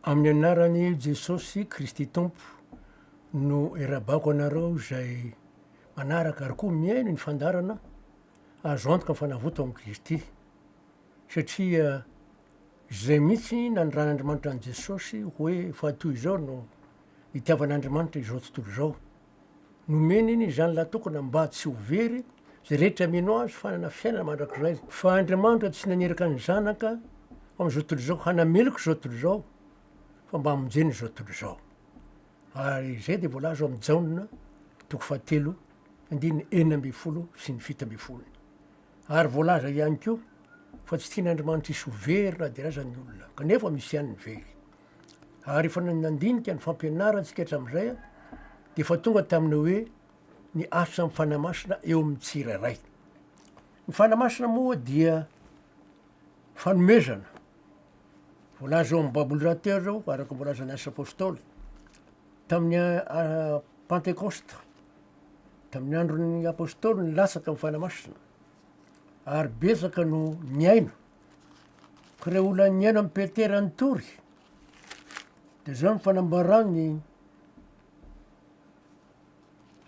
Amin'ny anaran'i Jesosy Kristy Tompo no irabako anareo izay manaraka ary koa mihaino ny fandaharana azo antoka ny fanavoto amin'i Kristy. Satria izay mihitsy nanirahan'Andriamanitra an'i Jesosy hoe fa toy izao no nitiavan'Andriamanitra izao tontolo izao. Nomeny ny zanany lahatokana mba tsy ho very izay rehetra mino Azy fa hanana fiainana mandrakizay. Fa Andriamanitra tsy naniraka ny Zanaka ho amin'izao tontolo izao hanameloka izao tontolo izao fa mba hamonjena izao tontolo izao. Ary izay dia voalaza ao amin'ny Jaona toko fahatelo andininy enina ambin'ny folo sy ny fito ambin'ny folo. Ary voalaza ihany koa fa tsy tian'Andriamanitra hisy ho very na dia aza ny olona, kanefa misy ihany ny very. Ary efa nandinika ny fampianarantsika hatramin'izay dia efa tonga tamin'ny hoe ny asan'ny Fanahy Masina eo amin'ny tsirairay. Ny Fanahy Masina moa dia fanomezana. Voalaza ao amin'ny Baboly Rater zao, araka ny voalazan'ny Asa Apôstôly, tamin'ny ah, Pantekosta, tamin'ny andron'ny Apôstôly ny latsaka ny Fanahy Masina, ary betsaka no niaina Ka ilay olona niaina amin'i Petera nitory, dia izao no fanambaran'ny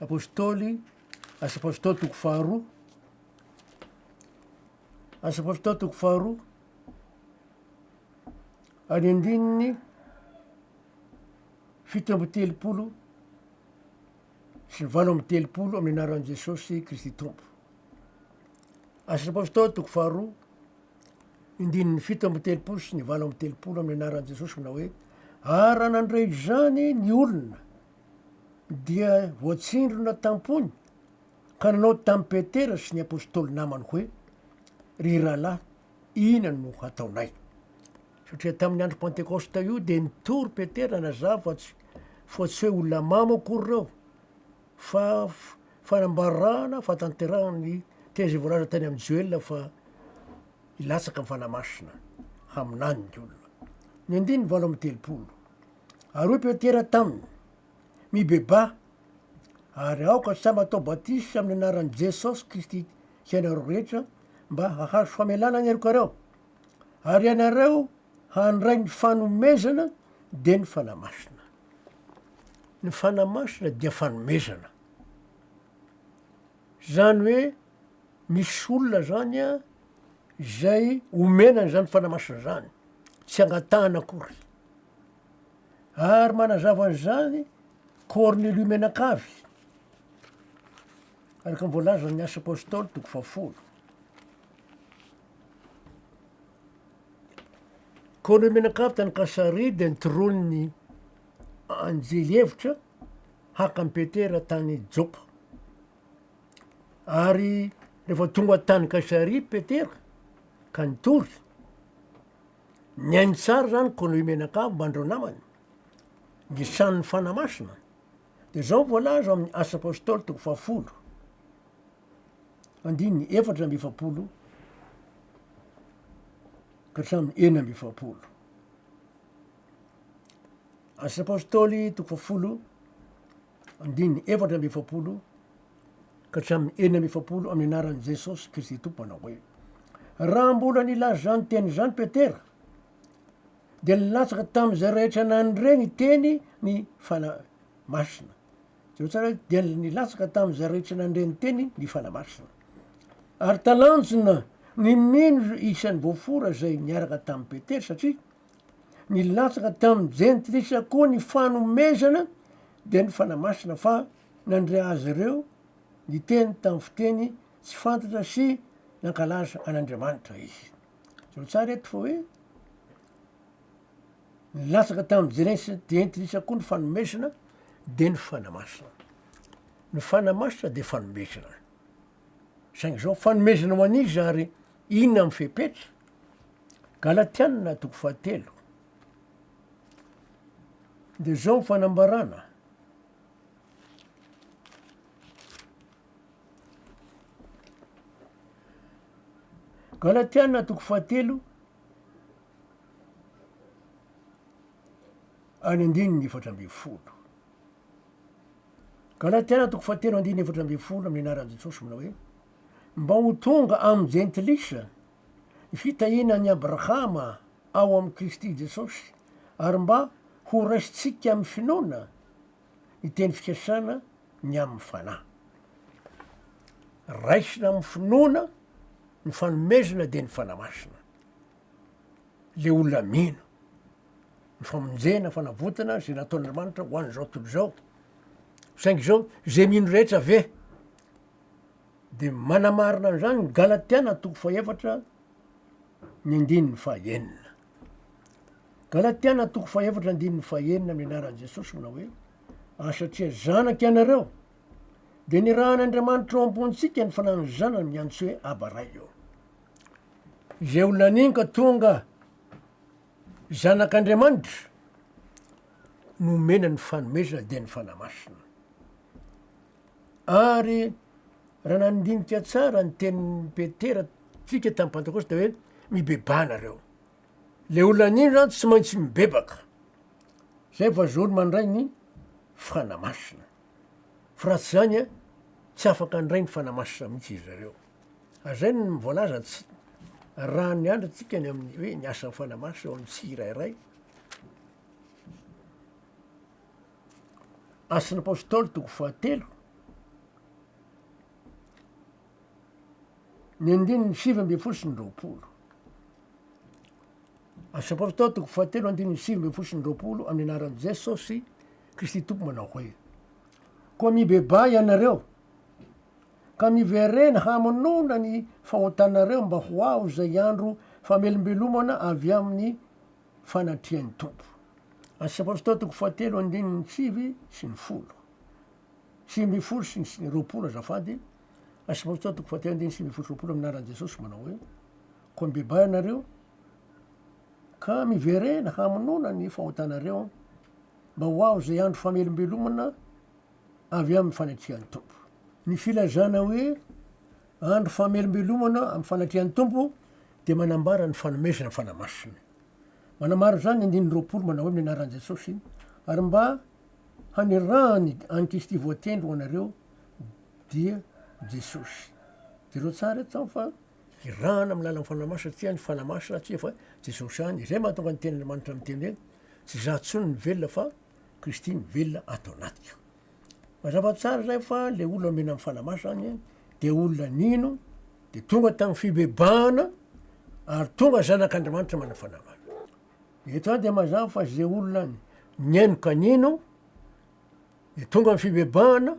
apôstôly, asa apôstôly toko faharoa, asa apôstôly toko faharoa, any andininy fito amby telopolo sy ny valo amby telopolo amin'ny anaran'i Jesosy Kristy Tompo. Asa ny Apostoly toko faharoa, ny ndininy fito amby telopolo sy ny valo amby telopolo amin'ny anaran'i Jesosy manao hoe ary raha nandre izany ny olona dia voatsindrona tampony ka nanao tamin'i Petera sy ny Apostoly namany hoe ry rahalahy Inona no hataonay? Satria tamin'ny andro Pantekosta io dia nitory Petera nazava fa tsy fa tsy hoe olona mamo akory ireo fa fanambarana fahatanterahana ny teny izay voalaza tany amin'ny Joela fa hilatsaka ny Fanahy Masina haminany ny olona. Ny andininy valo amby telopolo. Ary hoy Petera taminy, mibebaha, ary aoka samy atao batisa amin'ny anaran'i Jesosy Kristy hianareo rehetra mba hahazo famelana ny helokareo, ary ianareo handray ny fanomezana dia ny Fanahy Masina. Ny Fanahy Masina dia fanomezana. Zany hoe misy olona zany a, izay omena an'izany Fanahy Masina zany, tsy angatahana akory. Ary manazava an'izany Kornelio Menakavy. Araka ny voalazan' ny Asa Apôstôly, toko fahafolo. Koa ireo mianakavy tany Kasaria dia nitoroan' ny anjely hevitra haka an'i Petera tany Jôpa. Ary rehefa tonga tany Kasaria Petera ka nitory, nihaino tsara izany Kônôio mianakavy mba an'ireo namany, nisanin' ny Fanahy Masina. Dia izao no voalaza ao amin'ny Asa Apôstôly toko fahafolo, andininy efatra amby efapolo ka hatramin'ny enina amby efapolo. Asa Apôstôly toko fahafolo, andininy efatra amby efapolo ka hatramin'ny enina amby efapolo amin'ny anaran'i Jesôsy Kristy Tompo manao hoe, Raha mbola nilaza izany teny izany Petera, dia nilatsaka tamin'izay rehetra nandre ny teny ny Fanahy Masina. Jereo tsara hoe dia nilatsaka tamin'izay rehetra nandre ny teny ny Fanahy Masina. Ary talanjona ny nino isan'ny voafora izay niaraka tamin'i Petera satria nilatsaka tamin'ny jentilisa koa ny fanomezana dia ny Fanahy Masina fa nandre azy ireo niteny tamin'ny fiteny tsy fantatra sy nankalaza an'Andriamanitra izy. Jereo tsara eto fa hoe, nilatsaka tamin'ny Jenesi dia entin'isa koa ny fanomezana dia ny fanamasina. Ny fanamasina dia fanomezana. Saingy zao fanomezana ho an'iza ary inona ny fepetra? Galatianina toko fahatelo dia zao ny fanambarana. Galatiana toko fahatelo ary andininy efatra ambin'ny folo. Galatiana toko fahatelo andininy efatra ambin'ny folo amin'ny anaran'i Jesosy manao hoe mba ho tonga amin'ny jentilisa ny fitahiana an'i Abrahama ao amin'i Kristy Jesosy ary mba ho raisintsika amin'ny finoana ny teny fikasana ny amin'ny fanahy. Raisina amin'ny finoana ny fanomezana dia ny fanahy masina. Le olona mino ny famonjena, fanavotana izay nataon'Andriamanitra ho an'izao tontolo izao. Saingy izao izay mino rehetra ve de manamarina an'izany ny Galatiana toko fahefatra ny andininy fahenina. Galatiana toko fahefatra andininy fahenina amin'ny anaran'i Jesosy manao hoe ary satria zanak' ianareo dia nirahan' Andriamanitra ao am-pontsika ny fananany zanany miantso hoe Aba Ray eo. Izay olona aniny ka tonga zanak'Andriamanitra no omena ny fanomezana dia ny Fanahy Masina. Ary raha nandinika tsara ny tenin'i Petera tsika tamin'ny Pantekôsta dia hoe, mibebaha nareo. Ilay olona nino izany tsy maintsy mibebaka. Izay vao zoro mandray ny Fanahy Masina. Fa raha tsy izany an, tsy afaka handray ny Fanahy Masina mihitsy izy ireo. Ary izay no voalaza tsy arahan'ny Andry antsika ny amin'ny hoe ny asan'ny Fanahy Masina ao amin'ny tsirairay. Asan'ny Apôstôly toko fahatelo, ny andininy sivy ambin'ny folo sy ny roapolo. Asan'ny Apôstôly toko fahatelo andininy sivy ambin'ny folo sy ny roapolo amin'ny anaran'i Jesôsy Kristy Tompo manao hoe koa mibebaha ianareo ka miverena hamonoana ny fahotanareo mba ho aho izay andro famelombelomana avy amin'ny fanatrian'ny Tompo. Asa Apostoly toko fahatelo andininy sivy sy ny folo. Sivy ambin'ny folo sy ny roapolo azafady, Asa Apostoly toko fahatelo andininy sivy ambin'ny folo sy roapolo amin'ny anaran'i Jesosy manao hoe, Koa mibebaha ianareo ka miverena hamonoana ny fahotanareo mba ho aho izay andro famelombelomana avy amin'ny fanatrian'ny Tompo. Ny filazana hoe Andro famelombelomana amin'ny fanatrehan'ny Tompo dia manambara ny fanomezana ny Fanahy Masina. Manamaro izany ny andininy roapolo manao hoe amin'ny anaran'i Jesosy ary mba hanirahany an'i Kristy voatendry ho anareo dia Jesosy. Jereo tsara eto fa irahana amin'ny lalan'ny Fanahy Masina satria ny Fanahy Masina tsy efa Jesosy ihany izay mahatonga ny tenin'Andriamanitra miteny hoe tsy izaho intsony ny velona fa Kristy mivelona ato anatiko. Mazava tsara izay fa le olona omena amin'ny fanamafy zany a de olona nino de tonga tamin'ny fibebahana ary tonga zanak'Andriamanitra manana fanamafy. Eto ihany dia mazava fa ze olona nihaino ka nino de tonga amin'ny fibebahana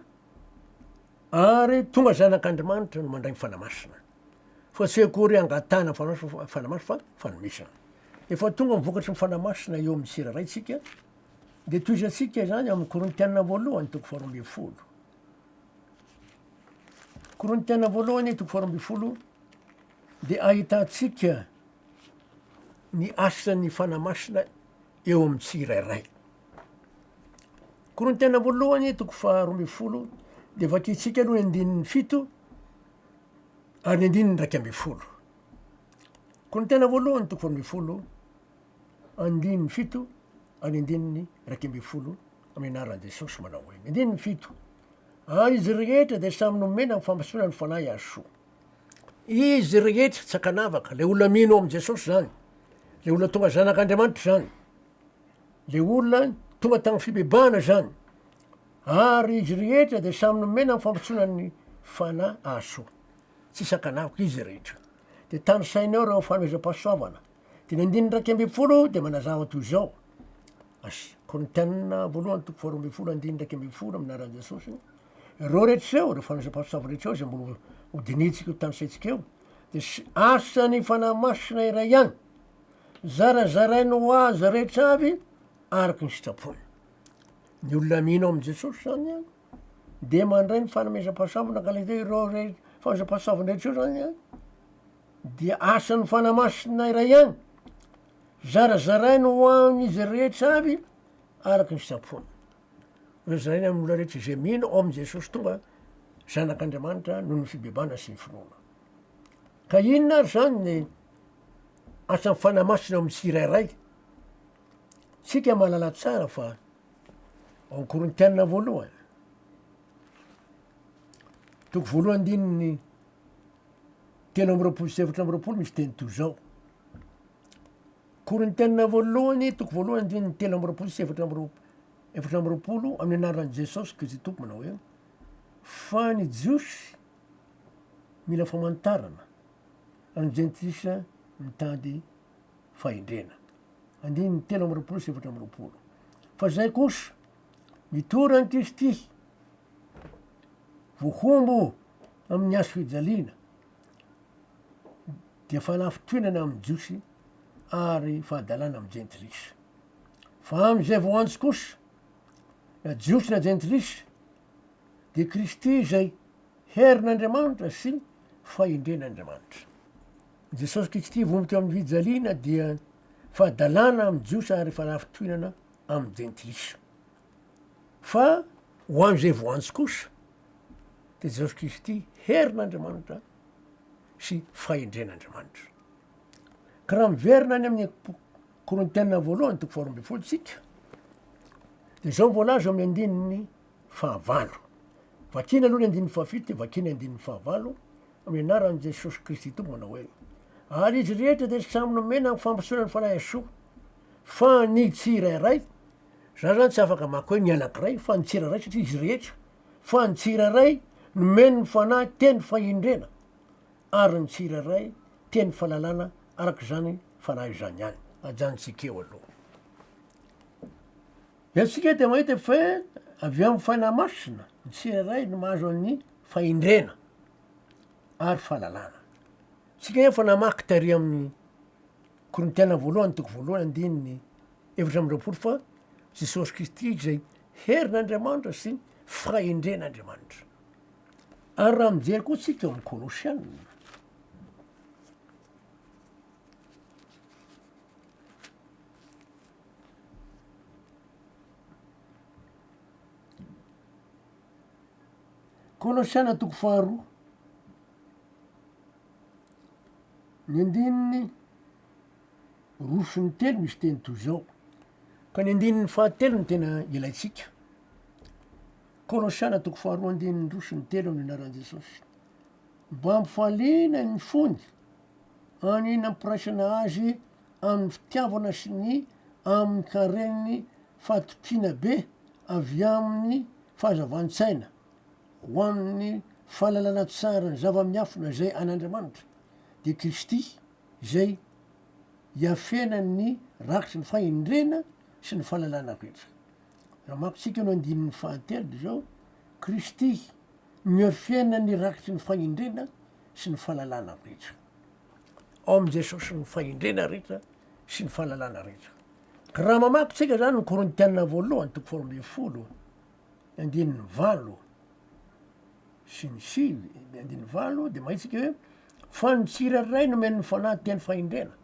ary tonga zanak'Andriamanitra no mandray ny fanahy masina fa tsy akory hangatahana ny fanahy masina fa fanomezana. Efa tonga ny vokatry ny fanahy masina eo amin'ny tsiraraintsika Dia tohizantsika izany amin'ny Korintiana voalohany toko faharoa ambin'ny folo. Korintiana voalohany toko faharoa ambin'ny folo dia ahitantsika ny asan'ny fanamasina eo amin'ny tsirairay. Korintiana voalohany toko faharoa ambin'ny folo dia vakintsika aloha ny andininy fito ary ny andininy iraika ambin'ny folo. Korintiana voalohany toko faharoa ambin'ny folo Andininy fito ary andininy iraika ambin'ny folo amin'ny anaran'i Jesosy manao hoe, ny andininy fito, ary izy rehetra dia samy nomena ny fahamasoana ny Fanahy ary soa. Izy rehetra, tsy ankanavaka, ilay olona mino amin'i Jesosy izany, ilay olona tonga zanak'Andriamanitra izany, ilay olona tonga tamin'ny fibebahana izany, ary izy rehetra dia samy nomena ny fahamasoana ny Fanahy ary soa. Tsisy ankanavaka, izy rehetra. Dia tanisainao ireo fanomezam-pahasoavana Dimy andininy iraika ambin'ny folo dia manazava toy izao, as, Korintiana voalohany toko faharoa ambin'ny folo andininy iraika ambin'ny folo amin'ny anaran'i Jesosy, ireo rehetra ireo, ireo fanazam-pahasoa sava rehetra ireo izay mbola hodinihintsika io tanisaintsika io dia asan'ny Fanahy Masina iray ihany, zarazarainy ho azy rehetra avy araka ny sitrapony. Ny olona mino amin'i Jesosy izany an, dia mandray ny fanomezam-pahasoavana ka ilay hoe ireo re- fanomezam-pahasoavana rehetra ireo izany an, Dia asan'ny Fanahy Masina iray ihany. Zarazaraina ho an'izy rehetra avy araka ny sitrapony. Rozaraina amin'ny olona rehetra izay mino ao amin'i Jesosy tonga zanak'Andriamanitra noho ny fibebahana sy ny finoana. Ka inona ary izany ny asan'ny Fanahy Masina ao amin'ny tsirairay? Tsika mahalala tsara fa ao Korintiana voalohany, toko voalohany andininy telo amby roapolo sy efatra amby roapolo misy teny toy izao. Korintiana voalohany, toko voalohany, andininy telo amby roapolo sy efatra amby roapolo, efatra amby roapolo, amin'ny anaran'i Jesosy Kristy Tompo manao hoe, fa ny Jiosy mila famantarana, ary ny Jentilisa mitady fahendrena. Andininy telo amby roapolo sy efatra amby roapolo. Fa izay kosa, mitory an'i Kristy, voahombo Amin'ny hazofijaliana dia fanafintohinana amin'ny Jiosy ary fahadalana amin'ny Jentilisa. Fa amin'izay voantso kosa, na Jiosy na Jentilisa, dia Kristy izay herin'Andriamanitra sy fahendren'Andriamanitra. Jesosy Kristy vono teo amin'ny fijaliana dia fahadalana amin'ny Jiosy ary fanafintohinana amin'ny Jentilisa. Fa ho an'izay voantso kosa dia Jesosy Kristy herin'Andriamanitra sy fahendren'Andriamanitra. Ka raha miverina any amin'ny Korintiana voalohany toko faharoa ambin'ny folo isika dia izao voalaza amin'ny andininy fahavalo. Vakina aloha ny andininy fahafito dia vakina ny andininy fahavalo amin'ny anaran'i Jesosy Kristy Tompo manao hoe ary izy rehetra dia samy nomena ny fampitsoana ny fanahy soa fa ny tsirairay Za zany tsy afaka hamaky hoe ny anankiray fa ny tsirairay satria izy rehetra fa ny tsirairay nomeny ny Fanahy teny fahendrena ary ny tsirairay teny fahalalana araka izany Fanahy izany ihany. Ajanontsika eo aloha. Eto isika dia mahita fa avy amin'ny Fanahy Masina ny tsirairay no mahazo an'ny fahendrena ary fahalalana. Isika anefa namaky tary amin'ny. Korintiana voalohany toko voalohany andininy efatra amby roapolo fa Jesosy Kristy izay herin'Andriamanitra sy fahendren'Andriamanitra. Ary raha mijery koa tsika eo amin'ny Kolosiana, Kolosiana toko faharoa. Ny andininy roa sy ny telo misy teny toy izao, ka ny andininy fahatelo no tena ilaintsika. Kolosiana toko faharoa andininy roa sy ny telo amin'ny anaran'i Jesosy. Mba hampifaliana ny fony, any nampiraisana azy amin'ny fitiavana sy ny amin'ny karen'ny fatokiana be avy amin'ny fahazavan-tsaina. Ho amin'ny fahalalana tsara ny zava-miafina izay an'Andriamanitra, dia Kristy izay iafenan'ny rakitry ny fahendrena sy ny fahalalana rehetra. Raha hamakintsika eo ny andininy fahatelo izao, Kristy no iafenan'ny rakitry ny fahendrena sy ny fahalalana rehetra. Ao amin'i Jesosy ny fahendrena rehetra sy ny fahalalana rehetra. Raha mamaky tsika izany ny Korintiana voalohany toko faharoa ambin'ny folo andininy valo sy ny sivy, andininy valo, dia mahitsika hoe fa ny tsirairay nomen'ny Fanahy teny fahendrena.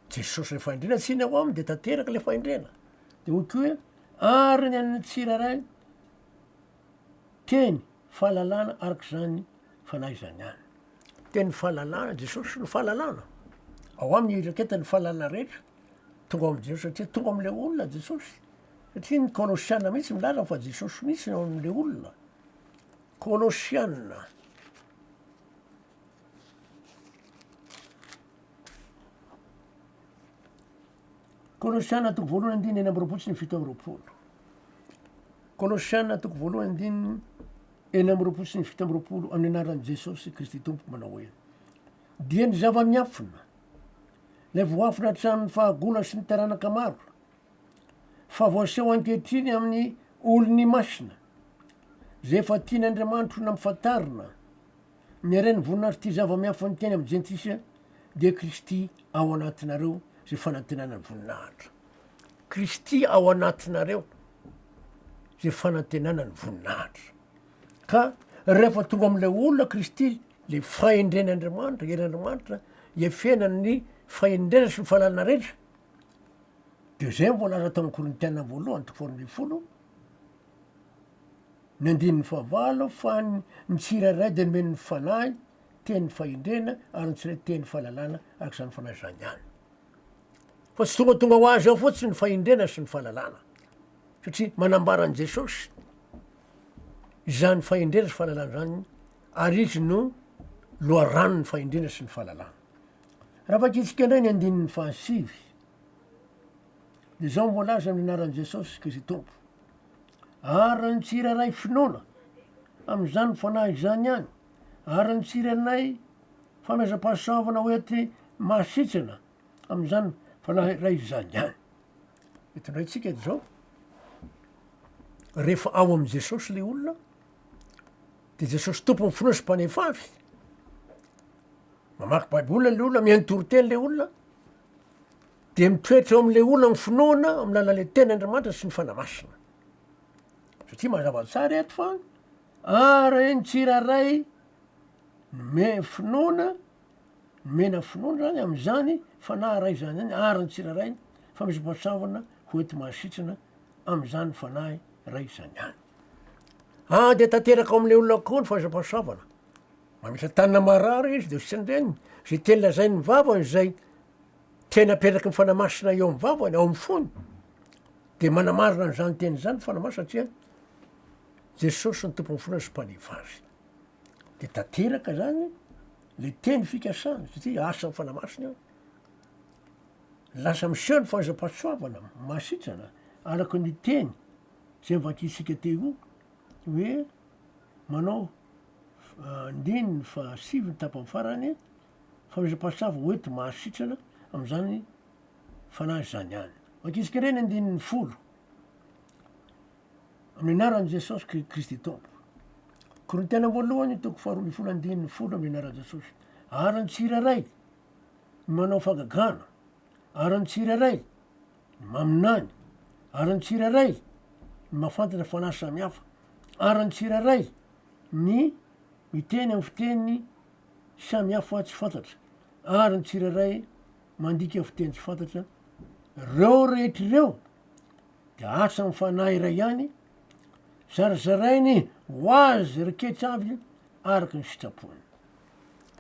Jesosy ilay fahendrena, tsy ny ao aminy dia tanteraka ilay fahendrena. Dia hoy koa hoe ary ny an'ny tsirairay teny fahalalana arak'izany Fanahy izany ihany. Teny fahalalana, Jesosy no fahalalana. Ao aminy iraketany ny fahalalana rehetra. Tonga ao amin'i Jesosy satria tonga amin'ilay olona Jesosy. Satria ny Kolosiana mihitsy milaza fa Jesosy mihitsy no ao amin'ilay olona. Kolosiana. Kolosiana toko voalohany andininy enina amby roapolo sy ny fito amby roapolo. Kolosiana toko voalohany andininy enina amby roapolo sy ny fito amby roapolo amin'ny anaran'i Jesosy Kristy Tompo manao hoe dia ny zava-miafina, ilay voafina hatramin'ny fahagola sy ny taranaka maro, Fa voaseho ankehitriny amin'ny olony masina, izay efa tian'Andriamanitro nampafantarina ny haren'ny voninahitro ity zava-miafy niteny amin'ny jentilisa, dia Kristy ao anatinareo izay fanantenana voninahitra. Kristy ao anatinareo izay fanantenana ny voninahitra. Ka rehefa tonga amin'ilay olona Kristy, ilay fahendren'Andriamanitra, herin'Andriamanitra, hiafenany ny fahendrena sy ny fahalalana rehetra, Dia izay no voalaza tao amin'ny Korintiana voalohany toko faharoa ambin'ny folo, ny andininy fahavalo, fa ny ny tsirairay dia nomeny ny fanahy, teny fahendrena, ary ny tsirairay teny fahalalana araka izany fanahy izany ihany. Fa tsy tongatonga ho azy ao fotsiny ny fahendrena sy ny fahalalana, satria manambara an'i Jesosy izany fahendrena sy fahalalana izany, ary izy no loharanon'ny fahendrena sy ny fahalalana. Raha vakitsika indray ny andininy fahasivy, dia izao no voalaza amin'ny anaran'i Jesosy Kristy Tompo, Ary ny tsirairay finoana amin'izany Fanahy izany ihany, ary ny tsirairay fanazam-pahasoavana hoety mahasitrana amin'izany Fanahy iray izany ihany. Eto indray tsika dia izao, rehefa ao amin'i Jesosy ilay olona, de Jesosy Tompo mifona sy mpanefy avy, mamaky baiboly le olona, mihaino toriteny le olona, de mitoetra eo am'le olona ny finoana amin'ny alalan'le teny Andriamanitra sy ny Fanahy Masina, satria mazava tsara eto fa araky ny tsirairay me- finoana nomena finoana zany am'zany Fanahy Ray zany zany araka ny tsirairay fa misy mpahatsahona hoenti-mahasitrana am'zany Fanahy Ray zany ihany. Ady tanteraka ao amin'ilay olona avokoa ny fahasampansaovana. Mametra tanana marary izy dia sendreniny. Izay teny lazain'ny vavany izay teny aperaky ny fanahy masina eo amin'ny vavany, ao amin'ny fony, dia manamarina an'izany teny izany ny fanahy masina satria Jesosy ny tompon'ny fona sy mpaneva azy. Dia tanteraka izany ilay teny fikasany satria asan'ny fanahy masina eo. Lasa miseho ny fahasampansoavana, mahasitrana, araka ny teny. Zay vakintsika teo io hoe manao andininy fahasivy ny tapany farany fanomezam-pahasoava hoenti mahasitrana amin'izany fanahy izany ihany. Vakintsika indray ny andininy folo amin'ny anaran'i Jesosy Kri- Kristy Tompo. Korintiana voalohany toko faharoa ambin'ny folo andininy folo amin'ny anaran'i Jesosy. Ary ny tsirairay ny manao fagagana, ary ny tsirairay Maminany, ary ny tsirairay no mahafantatra fanahy samihafa, ary ny tsirairay ny miteny amin'ny fiteny samihafa tsy fantatra, ary ny tsirairay mandika fiteny tsy fantatra, reo rehetra ireo dia asa amin'ny Fanahy iray ihany, zarazarainy ho azy reketsa avy araka ny sitrapony.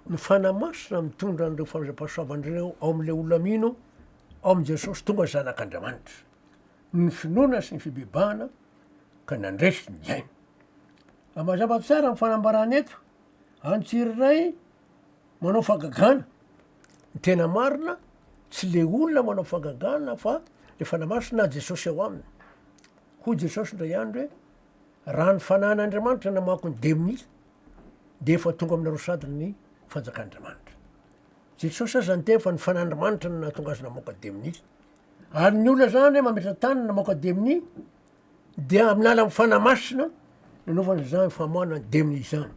ny Fanahy Masina mitondra an'ireo fandraipahasoavana ireo ao amin'ilay olona mino ao amin'i Jesosy tonga Zanak'Andriamanitra, ny finoana sy ny fibebahana ka nandresy ny ainy. Ary mazava tsara ny fanambarana eto, any tsirairay manao fagagana, ny tena marina tsy le olona manao fagagana fa le Fanahy Masina na Jesosy ao aminy. Hoy Jesosy indray andro hoe. Raha ny fanahin'Andriamanitra namaky ny demonia dia efa tonga aminareo sady ny fanjakan'Andriamanitra. Jesosy aza niteny fa ny fanahin'Andriamanitra no nahatonga azy namoaka demonia. Ary ny olona zany mametra-tany namoaka demonia dia amin'ny alalan'ny fanahy masina nanaovana izany famoahana ny demonia izany.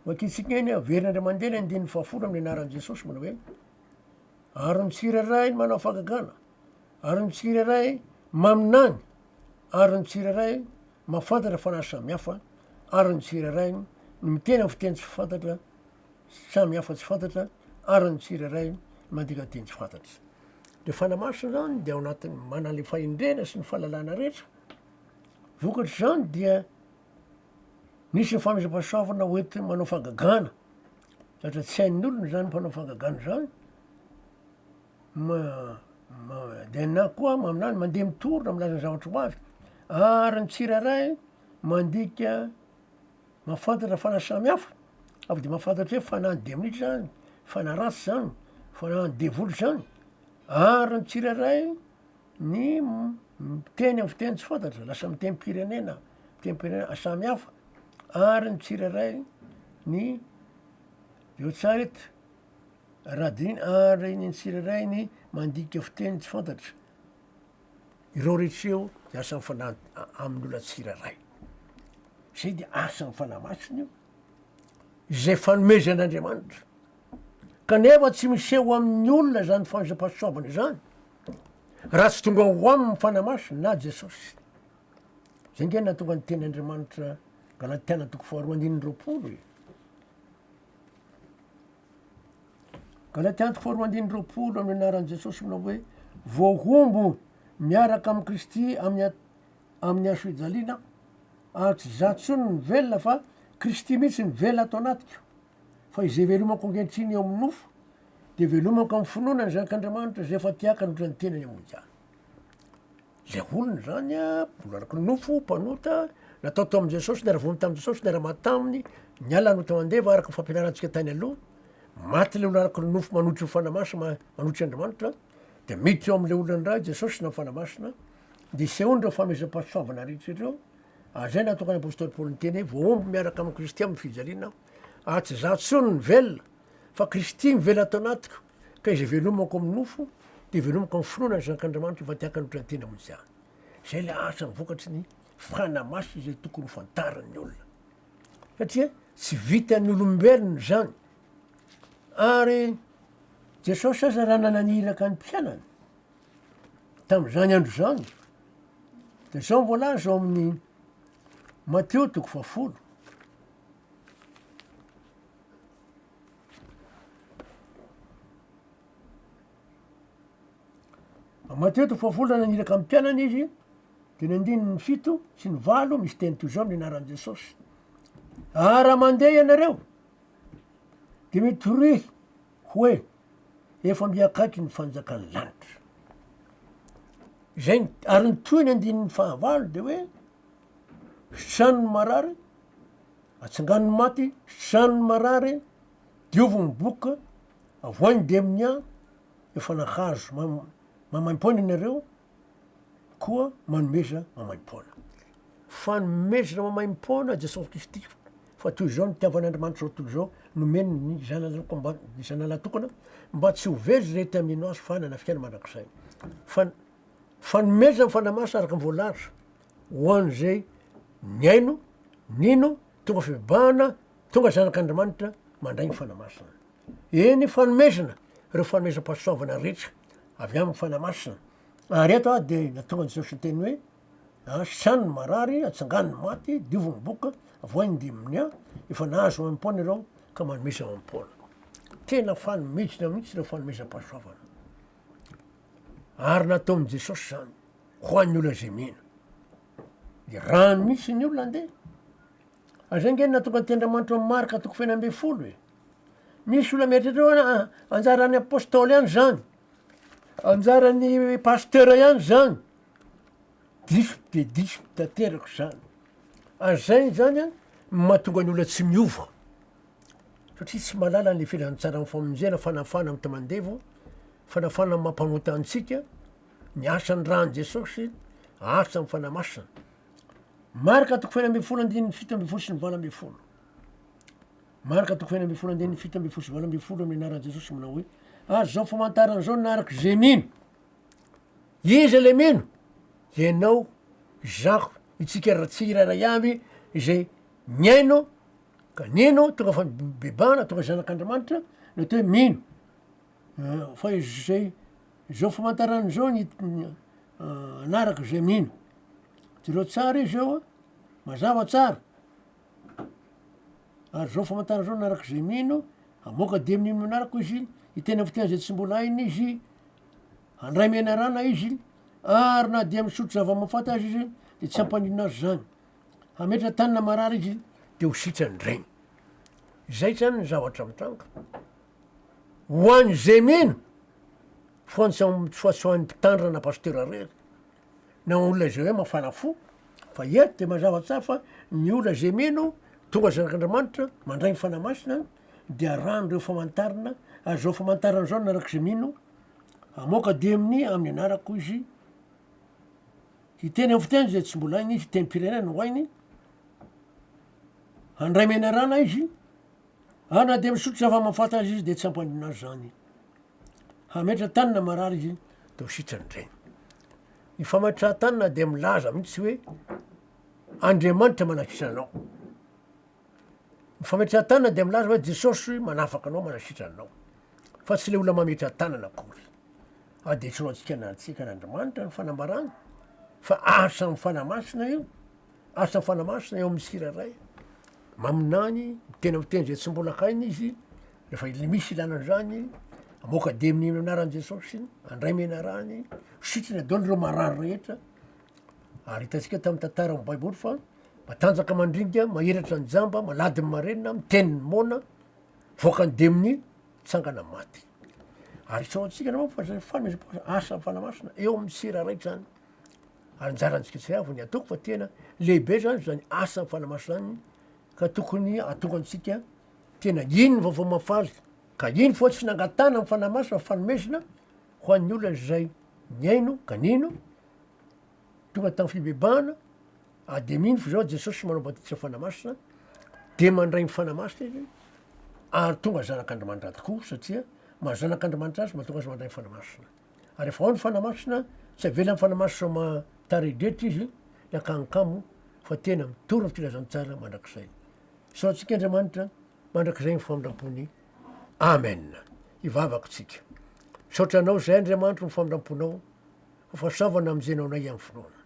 Vakintsika eny averina indray mandeha ny andininy fahafolo amin'ny anaran'i Jesosy manao hoe ary ny tsirairay ny manao fagagana Ary ny tsirairay maminany, ary ny tsirairay mahafantatra fanahy samy hafa, ary ny tsirairay no miteny amin'ny fiteny tsy fantatra samy hafa tsy fantatra, ary ny tsirairay mandika teny tsy fantatra. Ilay Fanahy Masina izany dia ao anatin'ny manana ilay fahendrena sy ny fahalalana rehetra. Vokatr'izany dia nisy ny famindram-pahasoavana hoentina manao fangagana, satria tsy hain'ny olona izany mpanao fangagana izany. ma, ma, dia na koa maminany mandeha mitorina milaza ny zavatra ho avy, ary ny tsirairay mandika mahafantatra fanahy samy hafa, avy dia mahafantatra hoe fanahin'ny demonia izany, fanahy ratsy izany, fanahin'ny devoly izany, ary ny tsirairay ny miteny amin'ny fiteny tsy fantatra, lasa mitem-pirenena, mitem-pirenena samy hafa, ary ny tsirairay ny, eo tsara eto. Radin ary ny tsirairay ny mandika fiteny tsy fantatra. Ireo rehetra ireo dia asa mifanampy amin'ny olona tsirairay. Izay dia asa ny fanahy masina io, izay fanomezan'Andriamanitra. Kanefa tsy miseho amin'ny olona izany fanzam-pahasoavana izany raha tsy tonga ho aminy ny fanahy masina na Jesosy. Izay nge natonga ny teny Andriamanitra Galatiana toko faharoa andininy roapolo e. Galatia andiko faharoa andininy roapolo amin'ny anaran'i Jesosy manao hoe voahombo miaraka amin'i Kristy amin'ny amin'ny hasofijaliana aho ary tsy za tsony ny velona fa Kristy mihitsy ny velona ato anatiko fa izay velomako ankehitriny eo amin'ny nofo dia velomako amin'ny finoana ny zanak'Andriamanitra izay efa tiakany ohatran'ny tenany amoa-jany Ilay olona izany mbola araka ny nofo, mpanota, natao tao amin'i Jesosy, niara-vono tamin'i Jesosy, niara-maty taminy, niala hanota mandeva araka ny fampianarantsika tany aloha. Maty ilay olona araka ny nofo manotry ny fanahy masina, manotry Andriamanitra, dia miditra eo amin'ilay olona indray Jesosy na ny fanahy masina, dia isehoany ireo fanomezam-pahasoavana rehetra ireo. Ary izay no nahatonga ny apostoly Paoly niteny hoe voahombo miaraka amin'i Kristy amin'ny fijaliana aho. Ary tsy izaho intsony no velona, fa Kristy mivela ato anatiko. Ka izay velomako amin'ny nofo dia velomako amin'ny finoana ny Zanak'Andriamanitra efa te-haka ny mpinantena ho tsy any. Izay ilay asa vokatry ny fana masina izay tokony ho fantarin'ny olona. Satria tsy vitan'ny olombelona izany. Ary Jesosy aza raha nananiraka ny mpianany tamin'izany andro izany dia izao ny voalaza ao amin'ny Mateo toko fahafolo. Matoa eto Fohafolana niraka amin'ny mpianany izy dia ny andininy fito sy ny valo misy teny toy izao amin'ny anaran'i Jesosy. Ary raha mandeha ianareo dia mitoroy hoe efa mby akaiky ny fanjakan'ny lanitra. Izay ary ny toy ny andininy fahavalo dia hoe sitrano ny marary, atsangano ny maty, sitrano ny marary, diovy ny boka, avoahy ny demnia, efa nahazo mam- maimaim-poana ianareo, koa manomeza maimaim-poana. Fa nomezana maimaim-poana Jesosy Kristy, fa toy izao no nitiavan'Andriamanitra izao tontolo izao, nomeny ny Zanany ankoa mba, ny Zanany lahatokana, mba tsy ho very izay te hamino Azy, fa hanana fiainana mandrakizay. Fa, fanomezana ny Fanahy Masina araka ny voalaza. Ho an'izay nihaino, nino, tonga fibebahana, tonga zanak'Andriamanitra, mandray ny Fanahy Masina. Eny, fanomezana, ireo fanomezam-pahasoavana rehetra avy amin'ny Fanahy Masina. Ary eto aho dia nahatonga Jesosy hiteny hoe, Asiany ny marary, atsangany ny maty, diovy ny boka, avoahy ny diminia, a! Efa nahazo amim-poana ireo ka manomeza amim-poana. Tena fanomezana mihitsy ireo fanomezam-pahasoavana. Ary nataon'i Jesosy izany. ho an'ny olona izay mino. Dia raha misy ny olona andeha, ary izay ange no nahatonga ny teny Andriamanitra ao amin'ny Marka toko fahefatra ambin'ny folo e. Misy olona mieritreritra hoe ah, anjaran'ny apôstôly ihany izany, anjaran'ny pasteur ihany izany. Diso dia diso tanteraka izany. Ary izay izany an, no mahatonga ny olona tsy miova. Satria tsy mahalala ny filazantsara amin'ny famonjena, fanafahana amin'ny tamandevo, fanafahana amin'ny maha-mpanota antsika, Ny artsa ny rany Jesosy, artsa ny fanahy masina. Marka toko fahenina ambin'ny folo andininy fito ambin'ny folo sy ny valo ambin'ny folo. Marka toko fahenina ambin'ny folo andininy fito ambin'ny folo sy valo ambin'ny folo amin'ny anaran'i Jesosy manao hoe ary zao famantarana zao naraka izay mino. Iza le mino? Ianao, izaho, itsika raha tsy irairay avy izay miaino ka nino tonga fa bebana tonga zanak'Andriamanitra ny atao hoe mino. Fa izay zao famantarana zao ny hanaraka izay mino. Jereo tsara izy eo a, mazava tsara. Ary zao famantarana zao hanaraka izay mino, hamoaka dia amin'iny manaraka izy, ny tena fitiavana izay tsy mbola hainy izy, handray menarana izy, ary na dia misotro zava-mahafaty aza izy de tsy hampaninona azy zany. Hametra tany na marary izy de ho sitrany indray. Zay zany ny zavatra mitranga. Ho any izay mino fa ny soasoan'ny mpitandrina na pasitera irery na olona izay hoe mafana fo fa eto dia mazava tsara fa ny olona izay mino tonga zanak'Andriamanitra mandray ny Fanahy Masina dia arahany ireo famantarana ary izao famantarana izao ny arak'izay mino hamoaka demony amin'ny anarako izy hiteny amin'ny fiteny izay tsy mbola hainy hiteny firenena no hainy handray menarana izy Ary na dia misotro zava-mahafaty azy izy dia tsy hampandona azy izany. Hametra-tany na marary izy dia ho sitrany indray. Ny fametrahan-tany na dia milaza mihitsy hoe Andriamanitra manakitra anao. Ny fametrahan-tany na dia milaza hoe Jesosy manafaka anao, manasitra anao. Fa tsy ilay olona mametra-tanana akory. Ary dia tsy ho antsika na antsika na Andriamanitra ny fanambarany fa asa amin'ny Fanahy Masina io. Asa fanamasina eo amin'ny tsirairay. Maminany, miteny amin'ny teny izay tsy mbola hainy izy, rehefa ilay misy ilana an'izany, amoaka demony amin'ny anaran'i Jesosy, andray menarany, sitriny adaoly ireo marary rehetra. Ary hitantsika tamin'ny tantaran'ny Baiboly fa matanjaka mandringa, mahiratra ny jamba, malady ny marenina, miteny ny moana, voaka ny demony, tsangana ny maty. Ary isaorantsika naman fa zay fana- asa fanamasina eo amin'ny tsirairay zany. anjaran'ny Tsiketsiray vao ny ataoko fa tena lehibe izany izany asa fanamaso izany ka tokony atonga antsika tena iny ny vaovao mahafaly ka iny fa tsy nangatahana ny fanamaso fa fanomezana ho an'ny olona izay nihaino ka nino tonga tamin'ny fibebahana ary dia mino fa izao Jesosy manao batisa fanamasina dia mandray ny fanamasina izy ary tonga zanak'Andriamanitra tokoa satria maha zanak'Andriamanitra azy mahatonga azy mandray ny fanamasina. ary efa ao ny fanahy masina tsy avela ny fanahy masina sao maha taredretra izy ny akany kamo fa tena mitory ny filazantsara mandrakizay sao antsika Andriamanitra mandrakizay ny famindrampony Amen hivavaka tsika misaotra anao izay Andriamanitro ny famindramponao ho fahasoavana amin'izay naonay amin'ny finoana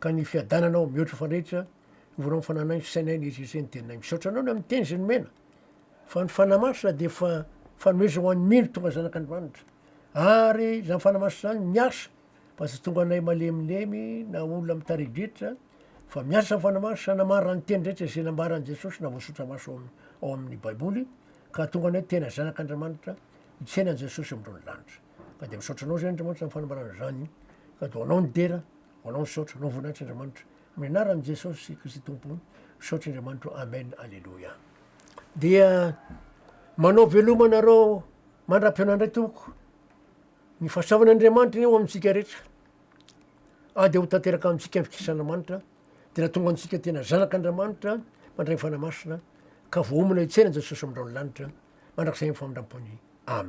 ka ny fiadananao mihoatra fa rehetra ny voalohany fananay ny sainay ny ezezen'ny teninay misaotra anao ny amin'ny teny izay nomena Fa ny Fanahy Masina dia fa fanomezana ho an'ny mino tonga zanak'Andriamanitra. Ary izany Fanahy Masina izany miasa fa tsy tonga anay malemilemy na olona mitari-driatra fa miasa ny Fanahy Masina namarana ny teny rehetra izay nambaran'i Jesosy na voasotra maso ao amin'ny Baiboly ka hahatonga anay tena zanak'Andriamanitra hitsena an'i Jesosy amin'ireo ny lanitra. Ka dia misaotra anao izay Andriamanitra amin'ny fanambarana izany ka dia ho anao ny dera, ho anao ny saotra, anao voninahitra Andriamanitra. Amin'ny anaran'i Jesosy Kristy Tompo, misaotra Andriamanitro. Amen. Aleloia. Dia manao veloma anareo mandra-pihaona indray tompoko. Ny fahasoavan'Andriamanitra anie ho amintsika rehetra. Ady ho tanteraka amintsika ny fikisan'Andriamanitra dia nahatonga antsika tena zanak'Andriamanitra mandray ny Fanahy Masina ka voaomana hitsena an'i Jesosy amin'ireo ny lanitra mandrakizay amin'ny famindram-pony. Amen.